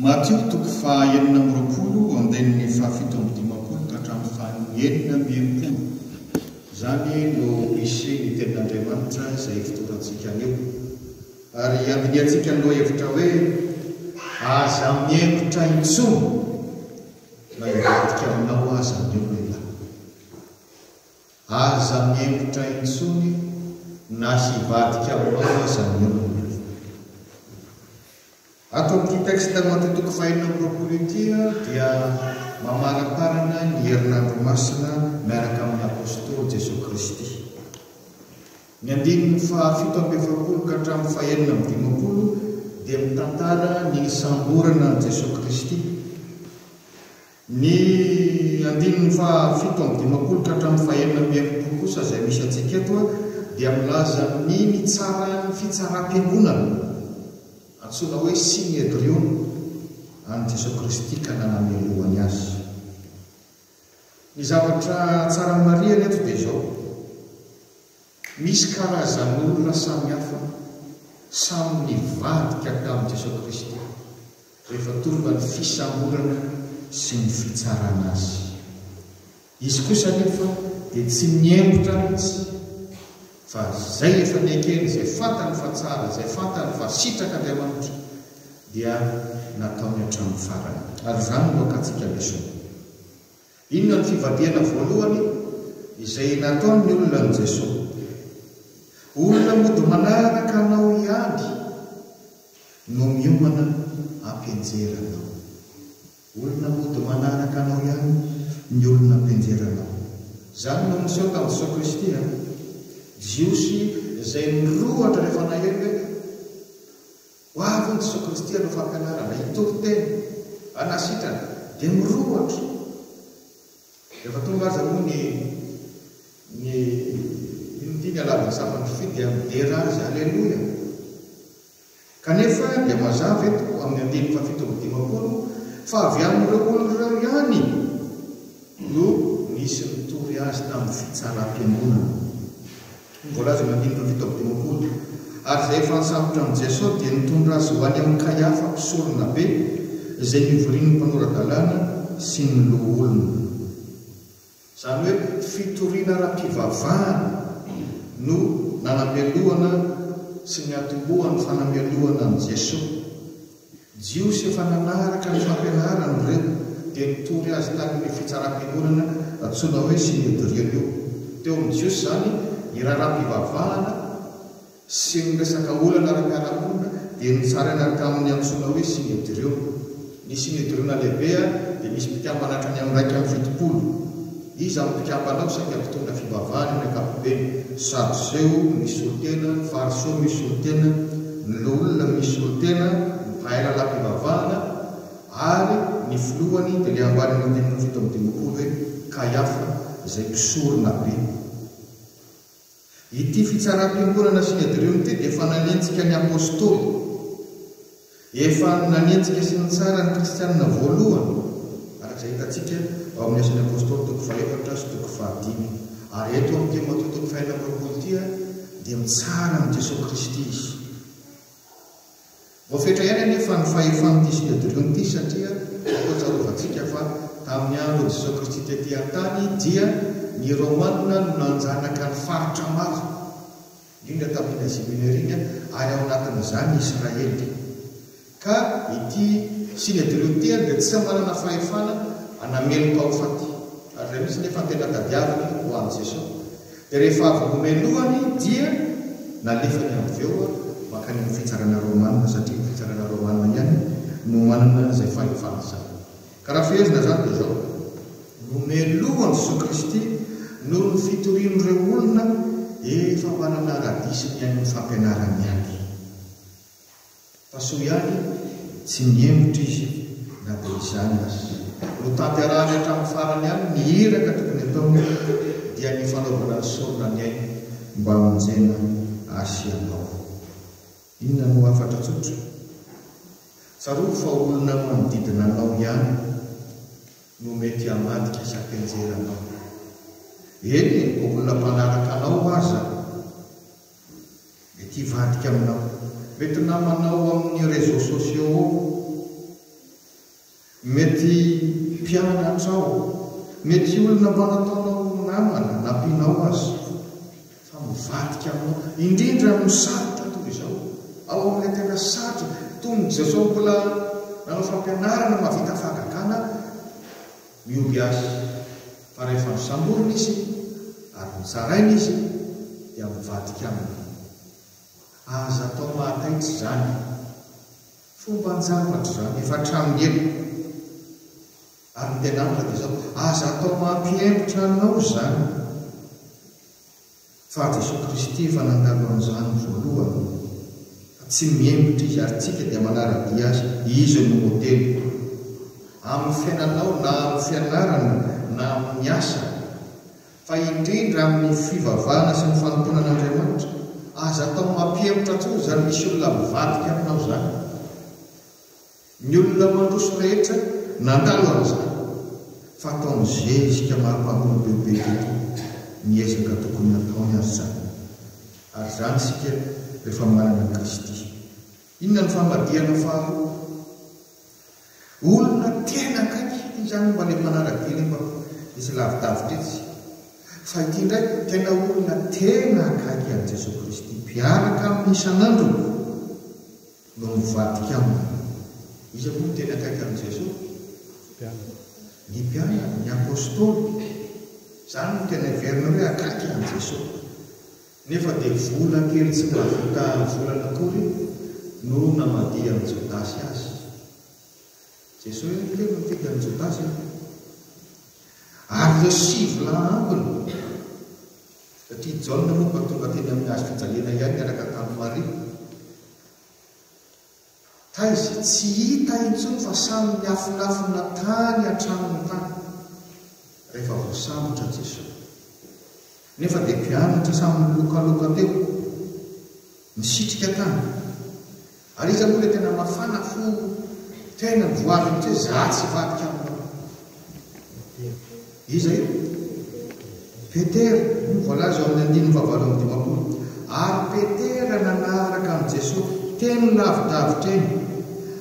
Matio toko fahaenina amby roapolo andininy fahafito amby dimampolo ka hatramin'ny fahaenina amby enimpolo. Izany no misy ny Tenin'Andriamanitra izay ifitorantsika anio. Ary andinihantsika ny lohahevitra hoe, Aza mihemotra intsony! Na hivadika aminao aza ny olona, aza mihemotra intsony na hivadika aminao aza ny olona. Ato amin'ity texte mato toko fahenina amby roapolo ity aho dia mamaramparana ny herinandro masina miaraka amin'ny Apostoly Jesoa Kristy. Ny andininy fahafito amby efapolo ka hatramin'ny fahenina amby dimampolo dia mitantara ny nisamborana an'i Jesoa Kristy. Ny andininy fahafito amby dimampolo ka hatramin'ny fahenina amby enimpolo kosa izay misy antsika eto dia milaza ny nitsaran'ny fitsaram-piangonana antsoina hoe Synedriona an'i Jesoa Kristy ka nanamelohany azy. Ny zavatra tsara marihana eto dia izao, misy karazan'olona samihafa samy nivadika tamin'i Jesoa Kristy rehefa tonga ny fisamborana sy ny fitsarana azy. Izy kosa anefa dia tsy nihemotra mihitsy. Fa izay efa nekeny, izay fantany fa tsara, izay fantany fa sitraka Andriamanitra, dia nataony hatramin'ny farany. Ary izany no akantsika lesona. Inona no fivadihana voalohany izay nataon'ny olona an'i Jesoa? Olona mody manaraka Anao ihany no miomana hampianjera Anao. Olona mody manaraka anao ihany ny olona mpianjera anao. Izany no niseho tamin'i Jesoa Kristy an. Jiosy izay nirohotra rehefa nahery hoe, Ho avy hono Jesoa Kristy hanao fampianarana, hitory teny, hanasitrana, dia mirohotra. Rehefa tonga aza moa ny ny inona ity ny halavan'ny sampan'ny fy dia midera azy, Aleloia! Kanefa dia mazava eto amin'ny andininy fahafito amby dimampolo fa avy amin'ireo olona ireo ihany no nisy nitory azy tamin'ny fitsaram-piangonana. Hoy ny voalaza amin'ny andininy fahafito amby dimampolo, Ary izay efa nisambotra an'i Jeso dia nitondra azy ho any amin'i Kaiafa mpisoronabe, izay nivorian'ny mpanora-dalàna sy ny loholona. Izany hoe fitoriana ara-pivavahana no nanamelohana sy niantombohan'ny fanamelohana an'i Jesoa. Jiosy efa nanaraka ny fampianarany ireo dia nitory azy tany amin'io fitsaram-piangonana antsoina hoe Synedrion io. Teo amin'ny Jiosy izany ny raharaham-pivavahana sy ny resaka olana ara-piarahamonina dia notsaraina tamin'ny antsoina hoe Synedrio. Ny Synedriona lehibe dia misy mpikambana hatrany amin'ny iraika amby fitopolo. Iza no mpikambana ao? Saika mpitondra fivavahana ny ankapobeny, Sadoseo, Misolotena, Fariseo, Misolotena, ny loholona, Misolotena, ny mpahay lalam-pivavahana, ary ny filohany dia ilay ambanin'ny dimy amby fito amby dimampolo hoe Kaiafa, izay mpisoronabe. Ity fitsaram-piangonana Synedrion ity dia efa nanenjika ny Apôstôly. Efa nanenjika sy nitsara ny Kristianina voalohany, araka izay hitantsika ao amin'ny Asan'ny Apôstôly toko fahefatra sy toko fahadimy. Ary eto amin'ny Timotheo toko fahenina amby roapolo ity dia mitsara an'i Jesoa Kristy izy. Voafetra ihany anefa ny fahefan'ity Synodrion ity satria toa tsarovantsika fa tamin'ny andron'i Jesoa Kristy tety an-tany dia ny Romanina no nanjanaka ny faritra maro, indrindra tamin'iny Azia Minera iny ary ao anatin'izany Israely. Ka ity Synodrion ity ary dia tsy manana fahefana hanamelo-pahofaty ary raha misy anefa ny tena tadiaviny ho an'i Jesoa, Dia rehefa avy nomelohany dia nalefany avy eo mankany amin'ny fitsarana Romana satria ny fitsarana Romana ihany no manana izay fahefana izany. Ka raha fehezina izany dia izao, nomelohan'i Jesoa Kristy noho ny fitorian'ireo olona efa manana ara-diso ny haino ny fampianarany ihany. Fa soa ihany tsy nihemotra izy na dia izany aza. Notanterahany hatramin'ny farany ihany ny iraka tokony ataony dia ny fanaovana ny sorona ny ainy mba hamonjena azy sy anao. Inona no hafatra tsotra? Tsarovy fa olona manodidina anao ihany no mety hamadika hisapenjera anao. Eny e, olona mpanaraka anao aza. Mety hivadika aminao. Mety namanao amin'ny réseaux sociaux ao. Mety mpianatrao. Mety olona mba nataonao ho namana, nampianao aza. Fa mivadika aminao. Indrindra amin'ny sarotra toy izao. Ao amin'ilay tena sarotra. Toy ny Jesosy mbola nanao fampianarana mahavita fahagagana, Mihoby Ahy. Fa rehefa nosamborina izy ary nozaraina izy dia mivadika aminy. Aza atao mahataitra izany. Fomban-javatra izany efa hatramin'ny ela. Ary ny tenin'Andriamanitra dia izao, Aza atao mampihemotra anao izany. Fa Jesoa Kristy efa nangalo an'izany voalohany fa tsy mihemotra Izy ary tsika dia manara-dia Azy. Izy no modeliko. Amin'ny fiainanao na amin'ny fianarana na amin'ny asa. Fa indrindra amin'ny fivavahana sy ny fanompoana an'Andriamanitra. Aza atao mampihemotra akory izany misy olona mivadika aminao izany. Ny olona mandroso rehetra nandalo an'izany fa ataony zezika maro mpamboly bebe tokoa ny ezaka tokony hataony ary izany ary izany isika rehefa manana an'i Kristy. Inona no famadihana faharoa? Olona tena akaiky izany mba le mpanara-dia le mba misy lavidavitra etsy fa ity indray tena olona tena akaiky an'i Jesoa Kristy mpiaraka aminy isan'andro. no mivadika aminy. Iza moa no tena akaiky an'i Jesoa? Ny mpianany, ny Apostoly. Izany no tena heverina hoe akaiky an'i Jesoa. Nefa dia vola kely tsy mahavita volana akory no namadihan'i Jodasy azy. Jesoa ihany kely no nifidy an'i Jodasy. Ary ireo sivy lahy ambiny. Satria i Jaona moa mba tonga teny amin'ny hazo fijaliana ihany niaraka tamin'i Maria. Taiza? Tsy hita intsony fa samy niafinafina tany an-tranony tany rehefa voasambotra Jeso. Nefa dia mpianatra samy nilokaloka teo, nisitrika tany. Ary iza moa ilay tena mafana fo tena mivoaha mihitsy hoe za tsy hivadika aminao? Iza io? Petera, hoy ny voalaza ao amin'ny andininy fahavalo amby dimampolo. Ary Petera nanaraka an'i Jesoa teny lavidavitra eny,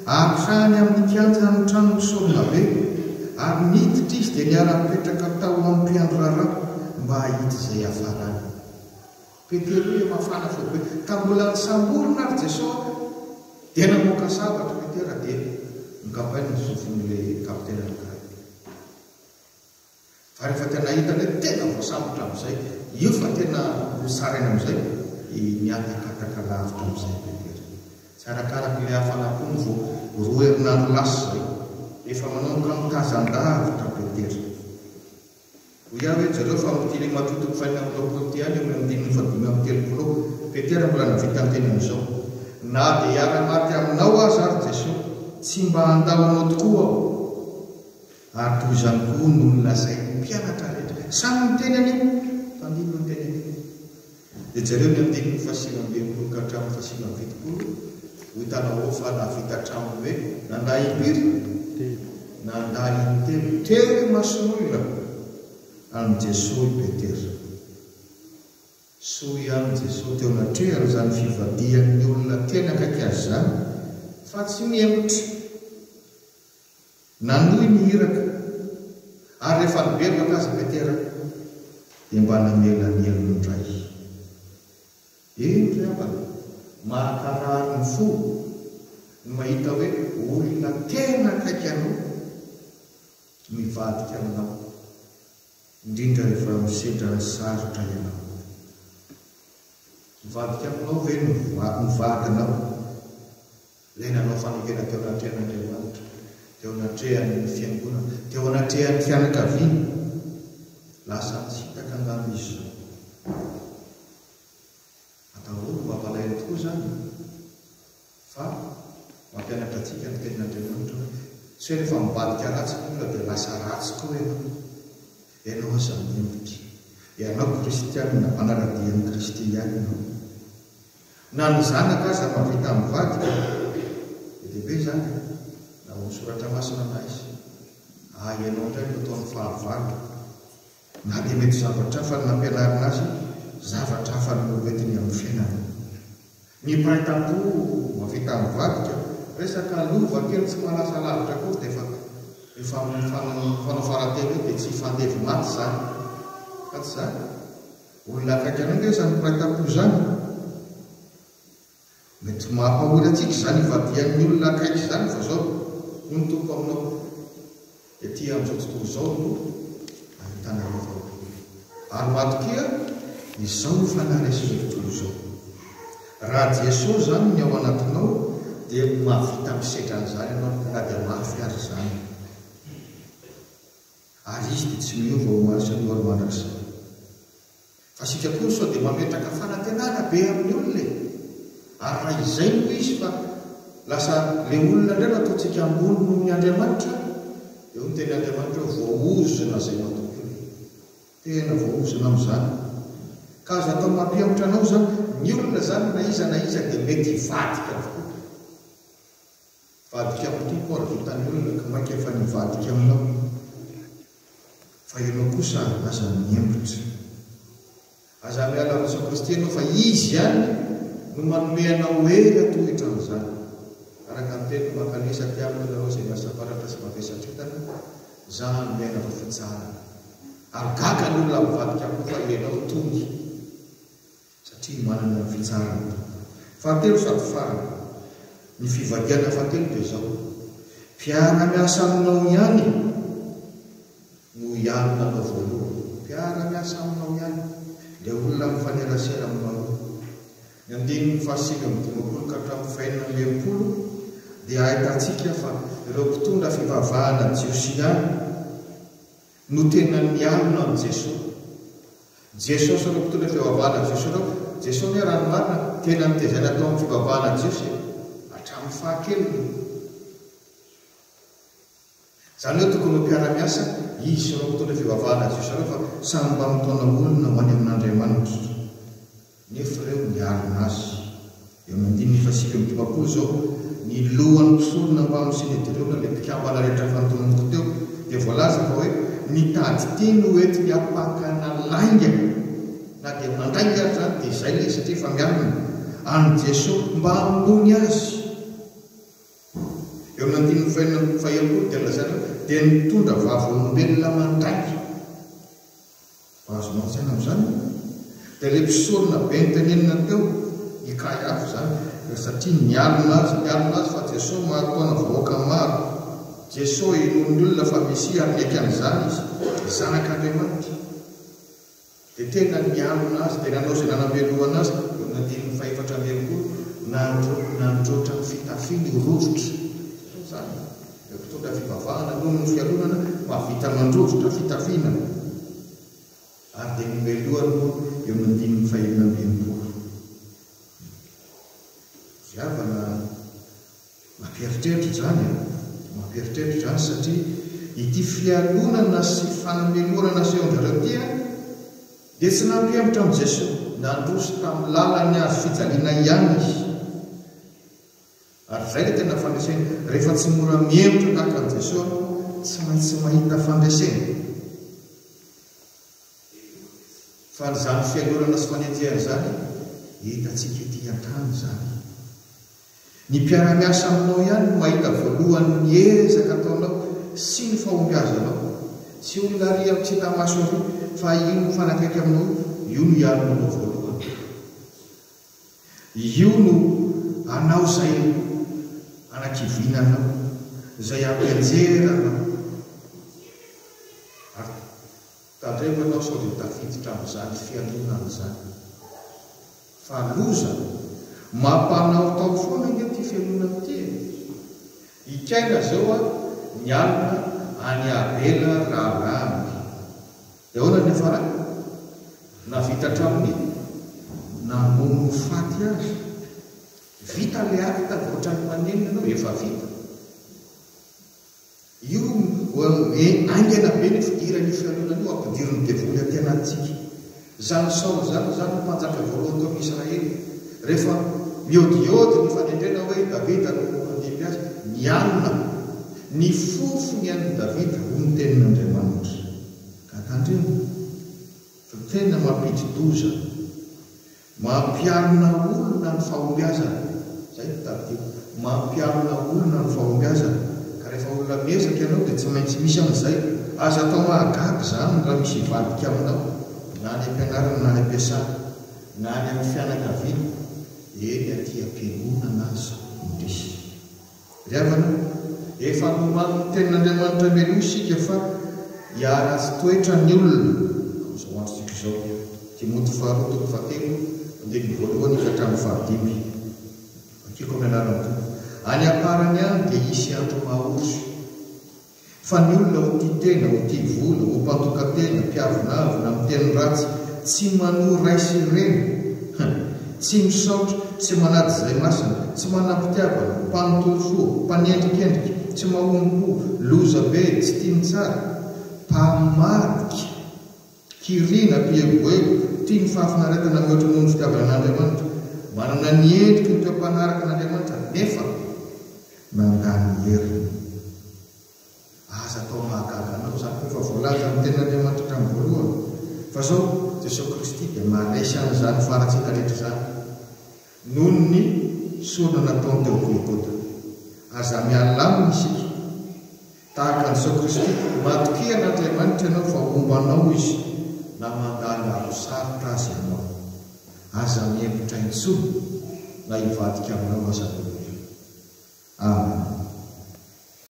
hatrany amin'ny kianjan'ny tranon'ny mpisorona-be, ary niditra izy dia niara-nipetraka tao amin'ny mpiandry raharaha mba hahita izay hiafarany. Petero ia mafana fo be ka mbola nisamborina ary Jesosy dia namoaka sabatra Petera dia nokapainy ny sofiny ilay kapiteny anankiray fa rehefa tena hita ilay tena voasambotra amin'izay io fa tena nosaraina amin'izay dia nihatakataka lavitra amin'izay Petera tsy arakaraka ilay hafana koa ny vao roa herinandro lasa izay efa manomboka mitazan-davitra Petera Hoy ihany ry zareo fa amin'ity rimatoa toko fahenina amby roapolo ity ihany eo amin'ny andininy fahadimy amby telopolo eo Petera mbola nahavitany teny amin'izao, Na dia hiara-maty aminao aza aho ry Jeso, tsy mba handao anao tokoa aho. Ary toy izany koa no nolazain'ny mpianatra rehetra. Samy niteny an'io tandindonin-teny an'io. Dia jereo ny andininy fahasivy ambin'ny folo ka hatramin'ny fahasivy amby fitopolo, ho hitanao ao fa nahavita hatramin'ny hoe nandà impiry? Nandà intelo teo imason'olona an'i Jesoa i Petera. Soa ihany Jesoa teo anatrehany izany fivadihan'ny olona tena akaiky Azy izany fa tsy nihemotra. Nanohy ny iraka, ary rehefa nibebaka aza Petera, dia mba namelaniany indray. Eny ry havana, mahakarary ny fo ny mahita hoe olona tena akaiky anao mivadika aminao, indrindra rehefa misedra ny sarotra ianao. Mivadika aminao ve ny vadinao? Ilay nanao fanekena teo anatrehan'Andriamanitra, teo anatrehan'ny fiangonana, teo anatrehan'ny fianakaviana. Lasa nitsipaka angamba izy izao. Atahorako mba hampalahelo tokoa izany e! Fa mampianatra antsika ny Tenin'Andriamanitra hoe, tsy hoe rehefa mivadika ratsy ny olona dia lasa ratsy koa ianao. Ianao aza mendrika. Ianao kristianina, manara-dia an'i Kristy ihany ianao. Na ny zanaka aza mahavita mivadika dia lehibe izany e! Na ao amin'ny soratra masina na aiza. Ah ianao indray no ataony fahavalo. Na dia mety zavatra hafa ny nampianarina azy, zavatra hafa no hoentiny amin'ny fiainany. Ny mpiray tampo mahavita mivadika, resaka lova kely tsy mahalasa lavitra akory dia efa efa mifanao farateny eo dia tsy hifandevo maty izany. Ka tsy izany? Olona akaiky anao ve izany mpiray tampo izany? Mety mampahory antsika izany ivadihan'ny olona akaiky izany fa izao hoy ny Tompo aminao, Ety amin'izao tontolo izao no ahitana ireo fahotana. Ary matokia, izao no fanaresin'izao tontolo izao. Raha Jesosy izany ny ao anatinao dia mahavita misedra an'izany ianao na dia mafy aza izany. Ary izy dia tsy miova ho omaly sy andohalo mandrakizay. Fa isika koa sao dia mametraka fanantenana be amin'ny olona e! Ary raha izay no izy fa lasa ilay olona indray no ataontsika ambony noho ny Andriamanitra, eo ny teny Andriamanitra eo, voaozona izay matoky eo e! Tena voaozona amin'izany. Ka azo atao mampihemotra anao izany, ny olona izany na iza na iza dia mety hivadika avokoa. Vadika am Tompo ary vitany olona ka maika efa nivadika aminao fa ianao kosa aza miembotra aza miala am Jesosy-Kristy ianao fa Izy ihany no manome anao hery hatohitra am zany araka ny teniny mankalesa aty aminy nareo zay miasa baratra sy mavesatritana za anome anareo fitsarana ary gaga ny olona mivadika am Tompo fa ianao tongy satria manana ny fitsarany. Fahatelo sady farany, ny fivadihana fahatelo dia izao, Mpiara-miasa aminao ihany no hialona anao voalohany. Mpiara-miasa aminao ihany, ilay olona mifanerasera aminao io. Ny andininy fahasivy amby dimampolo ka hatramin'ny fahenina amby enimpolo dia ahitantsika fa ireo mpitondra fivavahana jiosy ihany no tena nialona amin'i Jeso. Jeso sy ireo mpitondra fivavahana jiosy ireo, Jeso anie raha ny marina tena nitezaina tao amin'ny fivavahana jiosy e, hatramin'ny fahakeliny. Izany hoe tokony ho mpiara-miasa izy sy ireo mpitondra fivavahana jiosy ireo fa samy mba mitaona olona ho any amin'Andriamanitra. Nefa ireo nialona azy. Eo amin'ny andininy fahasivy amby dimampolo izao, ny lohan'ny mpisorona mpamosiny ady ireo na ilay mpikambana rehetra efa notononiko teo dia voalaza fa hoe mitady teny ho entiny hampakana lainga na dia mandainga ary izany dia izay ilay izy satria efa mialona. An'i Jeso mba hamonoany azy. Eo amin'ny andininy fahenina amby fahelompolo dia lazaina hoe dia nitondra vavolombelona mandainga. Azo mantsaina amin'izany moa dia ilay mpisorona be notenenina teo, i Kaiafa izany, dia satria nialona azy, nialona azy fa Jesoa mahatoana vahoaka maro, Jesoa inoan'ny olona fa Mesia ary niaiky an'izany izy, Zanak'Andriamanitra, dia tena nialona azy, dia nanao izay nanamelohana azy, eo amin'ny andininy fahefatra amby enimpolo, nandroatra ny fitafiny, rojotra, izany. Ireo mpitondra fivavahana noho ny fialonana mahavita mandrovitra fitafiana ary dia nomelohany koa eo amin'ny andininy fahenina amby enimpolo. Goavana mampieritreritra izany e! Mampieritreritra izany satria ity fialonana sy fanamelohana nasehon-dry zareo ity dia tsy nampihemotra an'i Jesoa. Nandroso tamin'ny lalany hazo fijaliana ihany Izy. Ary izay ilay tena fandresena. Rehefa tsy mora mihemotra tahaka an'i Jesoa ianao, tsy maintsy mahita fandresena. Fa an'izany fialonana sy fanenjehana izany, hitantsika ety an-tany izany. Ny mpiara-miasa aminao ihany no mahita voalohany ny ezaka ataonao sy ny fahombiazanao. Tsy olona ary amin'ny tsy hita maso ary, fa io mifanakaiky aminao io, io no hiaro anao voalohany. Io no anao zay no anakivinanao zay ampianjera anao ary tandremo ianao sao dia tafiditra amin'izany fialonana izany fa loza mampanaotao foana nge ty fialonana ty e! Ikaina zao a ny alina any avela raha landy Dia ahoana ny farany? Nahavita hatramin'ny namono ho faty azy. Vita ilay acte avy ohatran'ny manenina anao, efa vita. Io hoe haingana be ny fidiran'io fialonana io hampidirin'ny devoly aty anatintsika. Izany Saoly izany, izany no mpanjaka voalohany tao amin'ny Israely. Rehefa miodiody ny fanendrena hoe i Davida no handimby azy, nialona. Ny fofony an'i Davida, hoy ny tenin'Andriamanitra. Ka tandremo fa tena mampidi-doza, mampiarina olona ny fahombiazana, izay no tadidiako, mampiarina olona ny fahombiazana, ka rehefa olona miezaka ianao dia tsy maintsy misy an'izay, aza atao mahagaga izany raha misy hivadika aminao na any am-pianarana na any am-piasana na any amin'ny fianakaviana, eny aty am-piangonana aza no misy. Ry havana, efa nomany ny tenin'Andriamanitra mialoha isika fa hiaratsy toetra ny olona amin'izao androntsika izao. Timoty faharoa toko fahatelo andininy voalohany ka hatramin'ny fahadimy. Vakiko amin'ny anaran'ny Tompo. Any am-parany any dia hisy andro maha-ory. Fa ny olona ho tia tena, ho tia vola, ho mpandoka-tena, mpiavonavona, miteny ratsy, tsy manoa ray sy reny, hein, tsy misaotra, tsy manady izay masina, tsy manam-pitiavana, mpanontolo fo, mpanendrikendrika, tsy mahomby-po, loza be, tsy tia ny tsara, mpamadika. Mpikirina, mpieroboero, tia ny fahafinaretana mihoatra noho ny fitiavana an'Andriamanitra, manana ny endriky ny toe-mpanaraka an'Andriamanitra nefa nandà ny heriny. Aza atao mahagaga anao izany fa efa voalaza amin'ny Tenin'Andriamanitra hatramin'ny voalohany fa izao, Jesoa Kristy dia maharesy an'izany faharatsiana rehetra izany noho ny sorona nataony teo Golgota. Aza mialàmina isika. Tahaka an'i Jesoa Kristy, matokia an'Andriamanitra ianao fa homba anao Izy na mandalo andro sarotra aza ianao. Aza mihemotra intsony na hivadika aminao aza ny olona. Amen.